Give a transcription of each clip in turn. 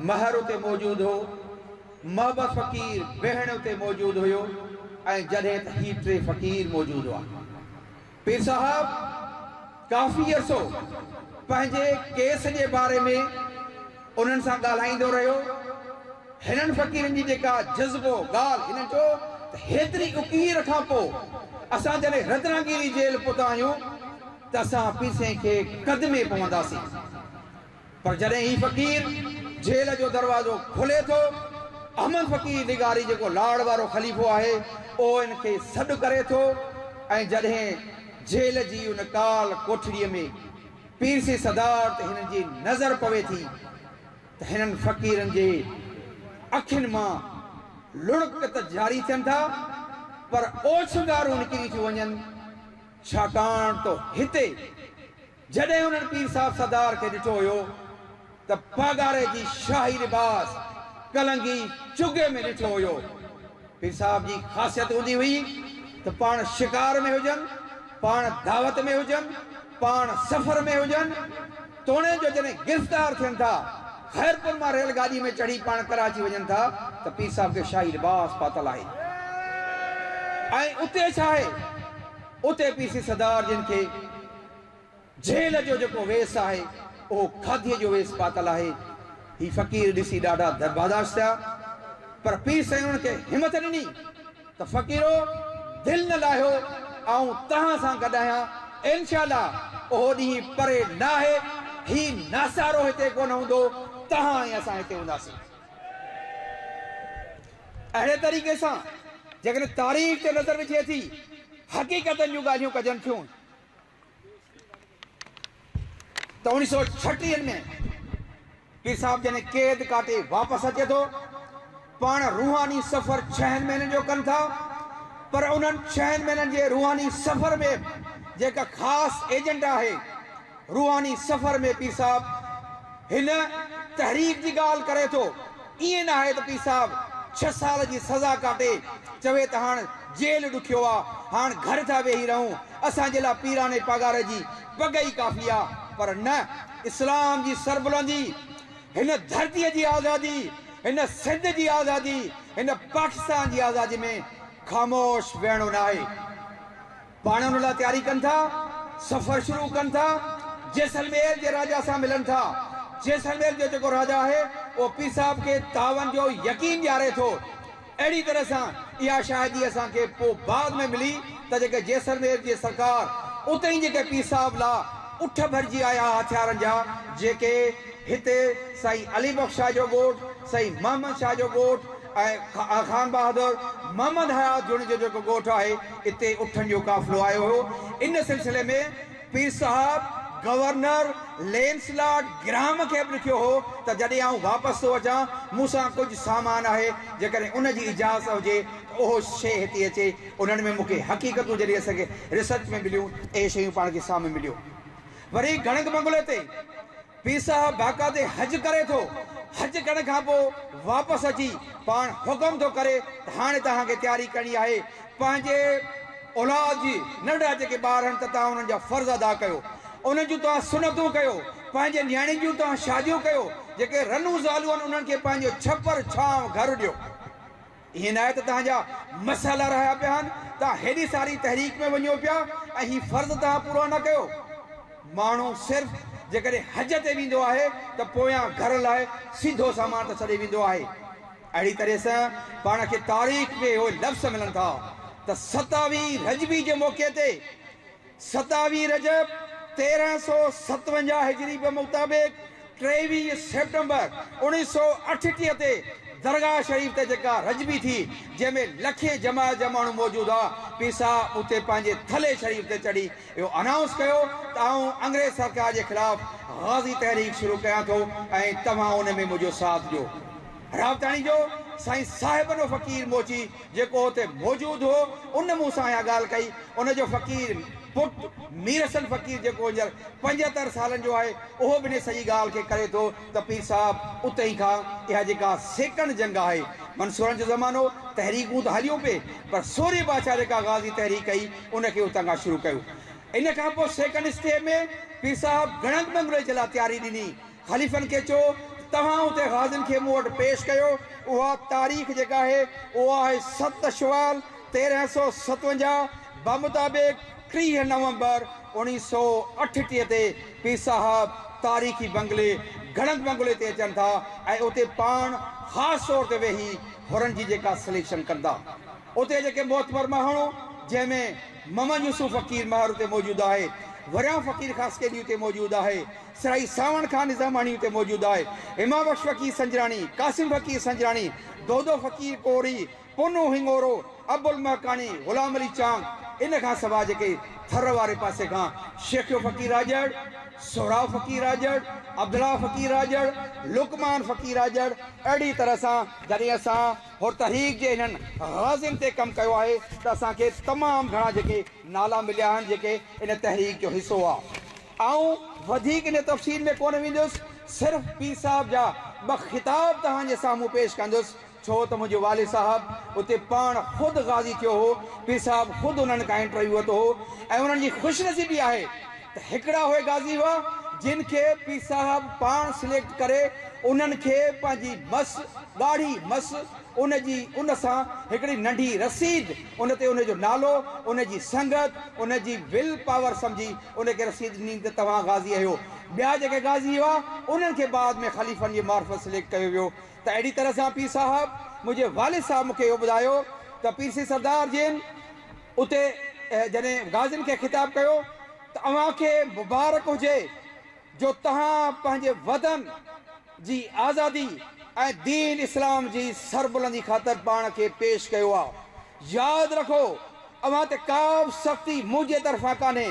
مهر اتي موجود هو، محبس فقير بهڻ اتي موجود هيو ۽ جڏهن ته هي ٽي فقير موجود هئا. پير صاحب ڪافي عرصو پنهنجي ڪيس جي باري ۾ انهن سان ڳالهائيندو رهيو. هنن فقيرن جي جيڪا جذبو ڳالهه هنن چيو ته هيتري اڪير کان پوء اسان جڏهن رتناگيري جيل پهتا آهيون ته اسان پير سائين کي قدمي پونداسين. پر جڏهن هي فقير جيل جو دروازو کولي ٿو، احمد فقير لغاري جيڪو لاڙ وارو خليفو آهي، اهو هن کي سڏ ڪري ٿو ۽ جڏهن جيل جي ان ڪال ڪوٺڙيء ۾ پيرسي سدار تي هنن جي نظر پوي ٿي ته هنن فقيرن جي اکين مان لڙڪ ته جاري ٿين ٿا، پر اوڇنگارون نڪري ٿيون وڃن، ڇاڪاڻ ته هتي. جڏهن انهن پير صاحب سردار کي ڏٺو هيو ته پاڳاري جي شاهي لباس، ڪلنگي، چغي ۾ ڏٺو هيو. پير صاحب جي خاصيت هوندي هئي ته پاڻ شڪار ۾ هجن، پاڻ دعوت ۾ هجن، پاڻ سفر ۾ هجن، توڻي جو جڏهن گرفتار ٿين ٿا، خيرپور مان ريل گاڏي ۾ چڙهي پاڻ ڪراچي وڃن ٿا ته پير صاحب کي شاهي لباس پاتل آهي ۽ اتي ڇا آهي، اتي پير سي سردار جن کي. جهيل جو جيڪو ويس آهي، اهو کاڌيء جو ويس پاتل آهي. هي فقير ڏسي ڏاڍا درباداش ٿيا، پر پير سائين انهن کي همٿ ڏني ته فقيرو! دل نه لاهيو، آئون توهان سان گڏ آهيان، انشاء الله اهو ڏينهن پري نه آهي، هي ناسارو هتي ڪونه هوندو، توهان ۽ اسان هتي هونداسين. اهڙي طريقي سان جيڪڏهن تاريخ تي نظر وجهي ٿي، حقيقتن جون ڳالهيون ڪجن ٿيون. ته اوڻيهه سؤ ڇٽيهن ۾ پير صاحب جڏهن قيد ڪاٽي واپس اچي ٿو، پاڻ روحاني سفر ڇهن مهينن جو ڪن ٿا، پر انهن ڇهن مهينن جي روحاني سفر ۾ به جيڪا خاص ايجنڊا آهي، روحاني سفر ۾ پير صاحب هن تحريڪ جي ڳالهه ڪري ٿو، ائين نه آهي ته پير صاحب ڇهه سال جي سزا ڪاٽي چوي ته هاڻ جيل ڏکيو آ، هاڻ گهر ٿا ويهي رهون، اسان جي لا پيراڻي پگهار جي پڳ ئي ڪافي آ. پر نه، اسلام جي سربلندي، هن ڌرتيء جي آزادي، هن سنڌ جي آزادي، هن پاڪستان جي آزادي ۾ خاموش ويهڻو ناهي. پاڻ ان لاء تياري ڪن ٿا، سفر شروع ڪن ٿا، جيسلمير جي راجا سان ملن ٿا. جيسلمير جو جيڪو راجا آهي، اهو پير صاحب کي تعاون جو يقين ڏياري ٿو. اهڙي طرح سان اها شاهدي اسان کي پوء بعد ۾ ملي ته جيڪي جيسلمير جي سرڪار اتي ئي جيڪي پير صاحب لا اٺ ڀرجي آيا ها هٿيارن جا، جيڪي هتي سائين علي بخش شاهه جو ڳوٺ، سائين محمد شاهه جو ڳوٺ، ۽ خان بهادر محمد حيات جوڻيجي جو جيڪو ڳوٺ آهي اتي اٺن جو قافلو آيو هيو ان سلسلي ۾ پير صاحب گورنر لينس لارڊ گرهام کي به لکيو هو ته جڏهن آئون واپس ٿو اچان مون سان ڪجهه سامان آهي جيڪڏهن ان جي اجازت هجي ته اهو شيء هتي اچي انهن ۾ مون کي حقيقتون جڏهن اسانکي ريسرچ ۾ مليون اهي شيون پاڻ کي سامهون مليو وري گهڻگ بنگلي تي پير صاحب باقا تي حج ڪري ٿو، حج ڪرڻ کان پوء واپس اچي پاڻ حڪم ٿو ڪري ته هاڻي توهان کي تياري ڪرڻي آهي پنهنجي اولاد جي، ننڍڙا جيڪي ٻار آهن ته توهان انهن جا فرض ادا ڪيو، انهن جون توهان سنتون ڪيو، پنهنجي نياڻين جون توهان شاديون ڪيو، جيڪي رنون زالون آهن انهن کي پنهنجو ڇپر، ڇانو، گهر ڏيو. اهي ناهي ته توهان جا مسئلا رهيا پيا آهن، توهان هيڏي ساري تحريڪ ۾ وڃو پيا ۽ هي فرض توهان پورا نه ڪيو. ماڻهو صرف جيڪڏهن حج تي ويندو آهي ته پويان گهر لاء سيڌو سامان ته ڇڏي ويندو آهي. اهڙي طرح سان پاڻ کي تاريخ ۾ اهي لفظ ملن ٿا ته ستاوي رجبي جي موقعي تي، ستاوي رجب تيرهن سؤ ستونجاهه هجري به مطابق ٽيويهه سيپٽمبر اوڻيهه سؤ اٺٽيهه تي درگاهه شريف تي جيڪا رجبي ٿي جنهن ۾ لکين جماعت جا ماڻهو موجود هئا پير صاحب اتي پنهنجي ٿلهي شريف تي چڙهي اهو انائونس ڪيو ته آئون انگريز سرڪار جي خلاف غازي تحريڪ شروع ڪيان ٿو ۽ توهان ان ۾ منهنجو ساٿ ڏيو. رابطاڻي جو سائين صاحب نو فقير موچي جيڪو اتي موجود هو، ان مون سان اها ڳالهه ڪئي. ان جو فقير پٽ مير حسن فقير جيڪو هينئر پنجهتر سالن جو آهي، اهو به ان سڄي ڳالهه کي ڪري ٿو ته پير صاحب اتي ئي کان اها جيڪا سيڪڻ جنگ آهي، منصورن جو زمانو، تحريڪون ته هليون پي، پر سورهيه بادشاهه جيڪا غازي تحريڪ ڪئي، ان کي اتان کان شروع ڪيو. ان کان پوء سيڪڻ اسٽيء ۾ پير صاحب گڙنگ ٻنگلوئي جي لاء تياري ڏني. خليفن کي چئو ته توهان اتي غازين کي مون وٽ پيش ڪيو. اها تاريخ جيڪا آهي اهو آهي ست شوال تيرهن سؤ ستونجاهه بمطابق ٽيهه نومبر اوڻيهه سؤ اٺٽيهه تي پير صاحب تاريخي بنگلي گهڙند بنگلي تي اچن ٿا ۽ اتي پاڻ خاص طور تي ويهي حرن جي جيڪا سليڪشن ڪندا اتي جيڪي معتبر ماهڻو جنهن ۾ محمد يوسف فقير مهر اتي موجود آهي وريان فقير خاصخيلي اتي موجود آهي سرائي سانوڻ کان نظاماڻي اتي موجود آهي. هما بخش فقير سنجراڻي، قاسم فقير سنجراڻي، دودو فقير ڪوري، پونو هڱورو، ابوالمهڪاڻي، غلام علي چانگ، ان کان سواء جيڪي ٿر واري پاسي کان شيخيو فقير راڄڙ، سهراب فقير راڄڙ، عبدالله فقير راڄڙ، لقمان فقير راڄڙ، اهڙي طرح سان جڏهن اسان حر تحريڪ جي هنن غازين تي ڪم ڪيو آهي ته اسان کي تمام گهڻا جيڪي نالا مليا آهن جيڪي ان تحريڪ جو حصو هئا. آئون وڌيڪ ان تفصيل ۾ ڪونه ويندس، صرف پير صاحب جا ٻه خطاب توهان جي سامهون پيش ڪندس، ڇو ته منهنجو والد صاحب اتي پاڻ خود غازي ٿيو هو، پير صاحب خود انهن کان انٽرويو ورتو هو ۽ انهن جي خوش نصيبي آهي ته هڪڙا اهي غازي هئا جن کي پير صاحب پاڻ سليڪٽ ڪري انهن کي پنهنجي مس، ڳاڙهي مس، ان جي ان سان هڪڙي ننڍي رسيد ان تي ان جو نالو، ان جي سنگت، ان جي ول پاور سمجهي ان کي رسيد ڏني ته توهان غازي اهيو. ٻيا جيڪي غازي هئا انهن کي بعد ۾ خليفن جي معرفت سليڪٽ ڪيو ويو ته اهڙي طرح سان پير صاحب منهنجي والد صاحب مون کي اهو ٻڌايو ته پير سيد سردار جن اتي جڏهن غازين کي خطاب ڪيو ته اوهان کي مبارڪ هجي. جو تهان پنهنجي وطن جي آزادي ۽ دين اسلام جي سربلندي خاطر پاڻ کي پيش ڪيو آ. ياد رکو اوهان تي ڪابه سختي منهنجي طرفان ڪانهي.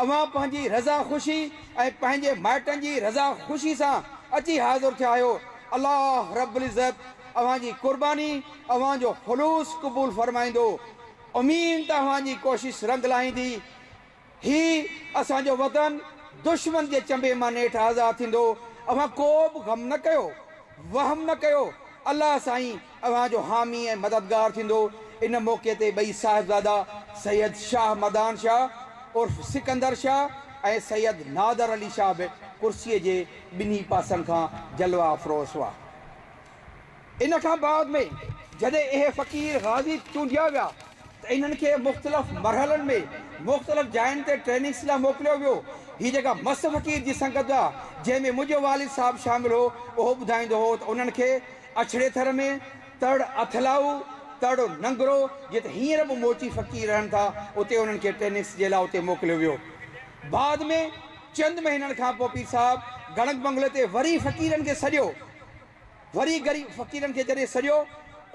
اوهان پنهنجي رضا خوشي ۽ پنهنجي مائٽن جي رضا خوشي سان اچي حاضر ٿيا آهيو. الله رب العزت اوهان جي قرباني اوهان جو خلوص قبول فرمائيندو. امين ته اوهان جي ڪوشش رنگ لائيندي. هي اسان جو وطن دشمن جي چنبي مان نيٺ آزاد ٿيندو، اوهان ڪو به غم نه ڪيو، وهم نه ڪيو، الله سائين اوهان جو حامي ۽ مددگار ٿيندو. ان موقعي تي ٻئي صاحبزادا سيد شاهه مدان شاهه عرف سڪندر شاهه ۽ سيد نادر علي شاهه به ڪرسيء جي ٻنهي پاسن کان جلوه افروز هئا. ان کان بعد ۾ جڏهن اهي فقير غازي چونڊيا ويا ته انهن کي مختلف مرحلن ۾ مختلف جاين تي ٽريننگس لاء موڪليو ويو. هي جيڪا مس فقير جي سنگت آ جنهن ۾ منهنجو والد صاحب شامل هو اهو ٻڌائيندو هو ته انهن کي اڇڙي ٿر ۾ تڙ اٿلائو، تڙ ننگرو جتي هينئر به موچي فقير رهن ٿا اتي انهن کي ٽريننگس جي لاء اتي موڪليو ويو. بعد ۾ چند مهينن کان پو پير صاحب گڻڪ بنگلي تي وري فقيرن کي سڏيو وري غريب فقيرن کي جڏهن سڏيو،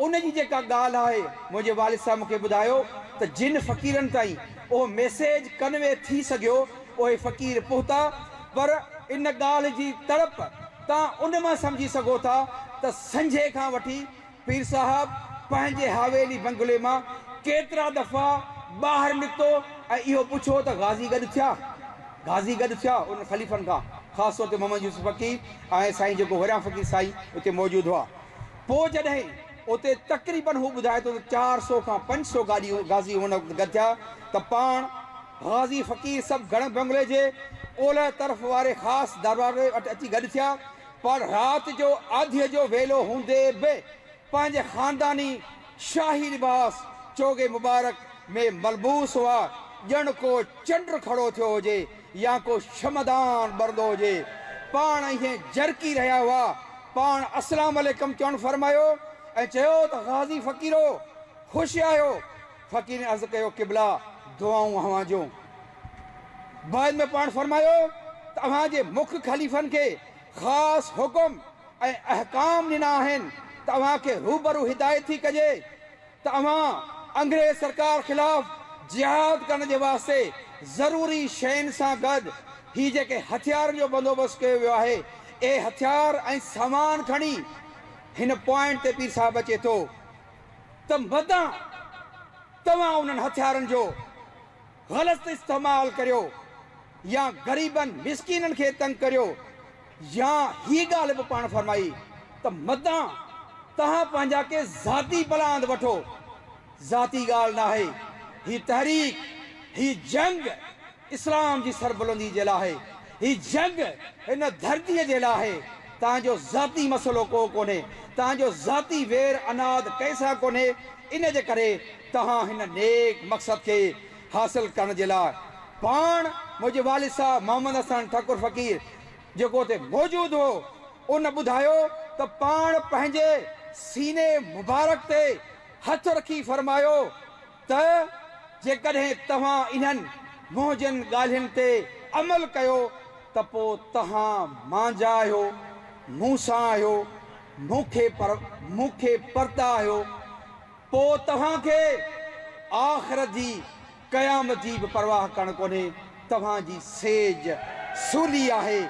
ان جي جيڪا ڳالهه آهي، منهنجي والد صاحب مون کي ٻڌايو ته جن فقيرن تائين اهو ميسيج ڪنوي ٿي سگهيو، اهي فقير پهتا، پر ان ڳالهه جي تڙپ تان ان مان سمجهي سگهو ٿا ته سنجهي کان وٺي، پير صاحب پنهنجي حويلي بنگلي مان ڪيترا دفعا ٻاهر نڪتو ۽ اهو پڇيو ته غازي گڏ ٿيا؟ غازي گڏ ٿيا؟ انهن خليفن کان خاص طور تي محمد يوسف فقيهه ۽ سائين جيڪو وريان فقير سائين اتي موجود هئا. پوء جڏهن اتي تقريبن هو ٻڌائي ٿو ته چار سؤ کان پنج سؤ گاڏيون غازي ان وقت گڏ ٿيا ته پاڻ غازي فقير سڀ گڙهه بنگلي جي اولهه طرف واري خاص دربار وٽ اچي گڏ ٿيا پر رات جو آڌيء جو ويلو هوندي به پنهنجي خانداني شاهي لباس چوغي مبارڪ ۾ ملبوس هئا، ڄڻ ڪو چنڊ کڙو ٿيو هجي يا ڪو شمعدان ٻرندو هجي. پاڻ ايئن جرڪي رهيا هئا. پاڻ اسلام عليڪم چوڻ فرمايو ۽ چيو ته غازي فقيرو! خوش آهيو؟ فقيرن عرض ڪيو قبلا! دعائون اوهان جون. بعد ۾ پاڻ فرمايو ته اوهان جي مک خليفن کي خاص حڪم ۽ احڪام ڏنا آهن ته اوهان کي روبرو هدايت ٿي ڪجي ته اوهان انگريز سرڪار خلاف جهاد ڪرڻ جي واسطي ضروري شين سان گڏ هي جيڪي هٿيارن جو بندوبست ڪيو ويو آهي اهي هٿيار ۽ سامان کڻي هن پوائنٽ تي پير صاحب اچي ٿو ته مدان توهان انهن هٿيارن جو غلط استعمال ڪريو يا غريبن مسڪينن کي تنگ ڪريو يا هي ڳالهه به پاڻ فرمائي ته مدان توهان پنهنجا ڪي ذاتي پلاند وٺو ذاتي ڳالهه ناهي هي تحريڪ هي جنگ اسلام جي سربلندي جي لاء آهي هي جنگ هن ڌرتي جي لاء آهي توهان جو ذاتي مسئلو ڪو ڪونهي توهان جو ذاتي وير عناد ڪنهن سان ڪونهي ان جي ڪري توهان هن نيڪ مقصد کي حاصل ڪرڻ جي لاء پاڻ منهنجي والد صاحب محمد حسن ٺڪر فقير جيڪو اتي موجود هو ان ٻڌايو ته پاڻ پنهنجي سيني مبارڪ تي هٿ رکي فرمايو ته جيڪڏهن توهان انهن منهنجن ڳالهين تي عمل ڪيو ته پوء توهان مانجا آهيو مون سان آهيو مون کي پر مون کي پرتا آهيو پوء توهان کي آخرت جي، قيامت جي، به پرواهه ڪرڻ ڪونهي، توهان جي سيج سولي آهي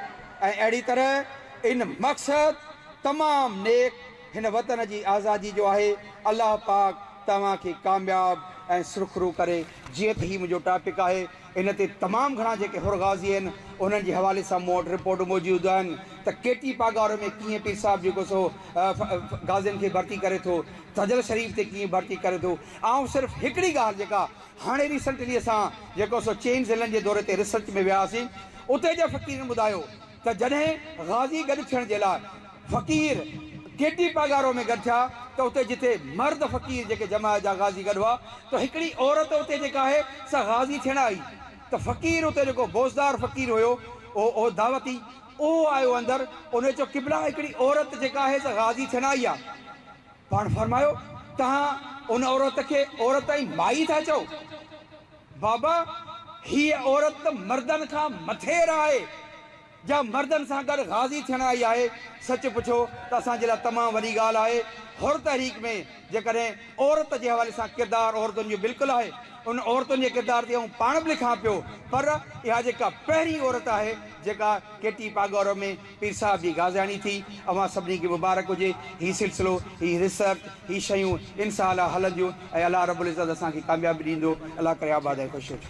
۽ اهڙي طرح ان مقصد تمام نيڪ هن وطن جي آزادي جو آهي، الله پاڪ توهان کي ڪامياب ۽ سرخرو ڪري. جيئن ته هي منهنجو ٽاپڪ آهي ان تي تمام گهڻا جيڪي حر غازي آهن انهن جي حوالي سان مون وٽ رپورٽون موجود آهن ته ڪي ٽي پاڳارو ۾ ڪيئن پير صاحب جيڪو سو غازين کي ڀرتي ڪري ٿو تجل شريف تي ڪيئن ڀرتي ڪري ٿو آئون صرف هڪڙي ڳالهه جيڪا هاڻي ريسنٽلي اسان جيڪو سو چئن ضلعن جي دوري تي ريسرچ ۾ وياسين اتي جي فقيرن ٻڌايو ته جڏهن غازي گڏ ٿيڻ جي لاء فقير ڪيٽي پاڳارو ۾ گڏ ٿيا ته اتي جتي مرد فقير جيڪي جماعت جا غازي گڏ هئا ته هڪڙي عورت اتي جيڪا آهي سا غازي ٿيڻ آئي ته فقير اتي جيڪو بوزدار فقير هيو اهو دعوتي اهو آيو اندر انهي چيو قبلا هڪڙي عورت جيڪا آهي سا غازي ٿيڻ آئي آ پاڻ فرمايو توهان ان عورت کي عورت ۽ مائي ٿا چئو؟ بابا هيء عورت ته مردن کان مٿير آهي، جا مردن سان گڏ غازي ٿيڻ آئي آهي، سچ پڇو ته اسان جي لاء تمام وڏي ڳالهه آهي، حر تحريڪ ۾ جيڪڏهن عورت جي حوالي سان ڪردار عورتن جو بلڪل آهي، ان عورتن جي ڪردار تي آئون پاڻ به لکان پيو، پر اها جيڪا پهرين عورت آهي جيڪا ڪيٽي پاڳورو ۾ پير صاحب جي غازياڻي ٿي. اوهان سڀني کي مبارڪ هجي هي سلسلو، هي ريسرچ، هي شيون انسالله هلنديون ۽ الله رب العزت اسان کي ڪاميابي ڏيندو. الله ڪري آباد ۽ خوش هجو.